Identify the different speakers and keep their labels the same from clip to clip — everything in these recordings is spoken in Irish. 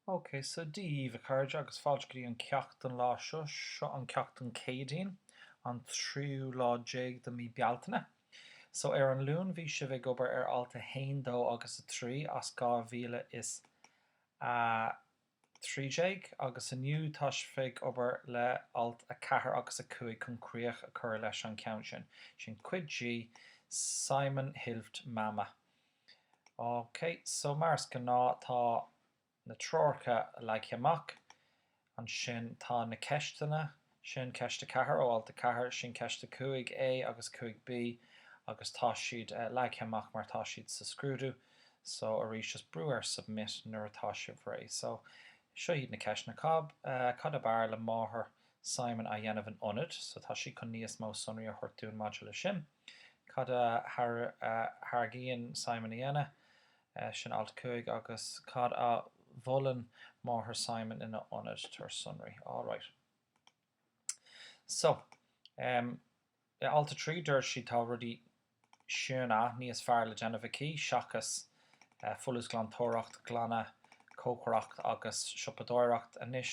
Speaker 1: OK, so Dia daoibh a chairde agus fáilte go dtí an ceacht don lá seo. Seo an ceacht don Céadaoin, an tríú lá déag de mhí Bealtaine. So ar an Luan bhí sibh ag obair ar alt a haon, dó agus a trí as dhá mhíle is a 13 agus inniu tá sibh ag obair le Alt 4 agus 5 chun críoch a chur leis an cheann sin. Sin Cuid D, Simon Hilft Mama. OK, so mar is gnáth tá na treoracha leagtha amach. Ansin tá na ceisteanna. Sin ceist a ceathair ó alt a ceathair, sin ceist a cúig A agus cúig B agus tá siad leagtha amach mar atá siad sa scrúdú so arís just brú ar submit nuair atá sibh réidh so seo iad na ceisteanna, Cab, Cad ab fhearr le máthair Simon a dhéanamh in ionad so tá siad chun níos mó sonraí a thabhairt dúinn maidir leis sin, Cad a thairgíonn Simon a dhéanamh? Sin alt 5 agus cad a mholann máthair Simon ina ionad? Tabhair sonraí. All right. So, um, i alt 3 dúirt siad tá rudaí suntasach níos fearr le déanamh aici seachas folúsghlantóireacht, glanadh, cócaireacht agus siopadóireacht. Anois,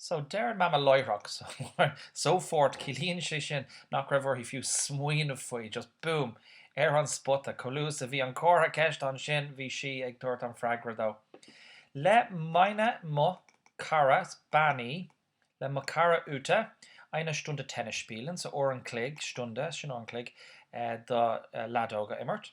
Speaker 1: So deir an Mama láithreach, sofort, ciallaíonn sé sin nach raibh uirthi fiú smaoineamh faoi, just boom, ar an spota. Chomh luath is a bhí an comhartha ceist ansin, bhí sí ag tabhairt an freagra dó. Le meine, mo chara, is bean í, le mo chara Ute, eine Stunde Tennis spielen, so uair an chloig, Stunde, sin uair an chloig, do leadóg a imirt.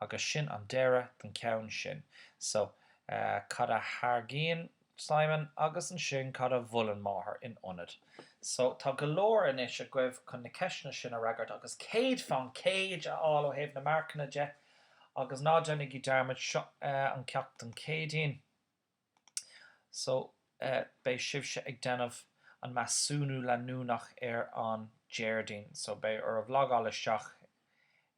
Speaker 1: Agus sin an deireadh den cheann sin. So, cad a thairgíonn Simon agus ansin cad a mholann Máthair in ionad? So, tá go leor anois agaibh chun na ceisteanna sin a fhreagairt agus 100 fán gcéad a fháil ó thaobh na marcanna de agus ná déanaigí dearmad, seo an ceacht don Chéadaoin. So, beidh sibhse ag déanamh an measúnú leanúnach ar an Déardaoin. So, beidh oraibh logáil isteach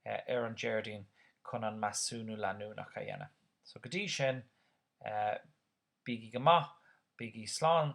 Speaker 1: ar an Déardaoin chun an measúnú leanúnach a dhéanamh. So, go dtí sin, bígí go maith, bígí slán.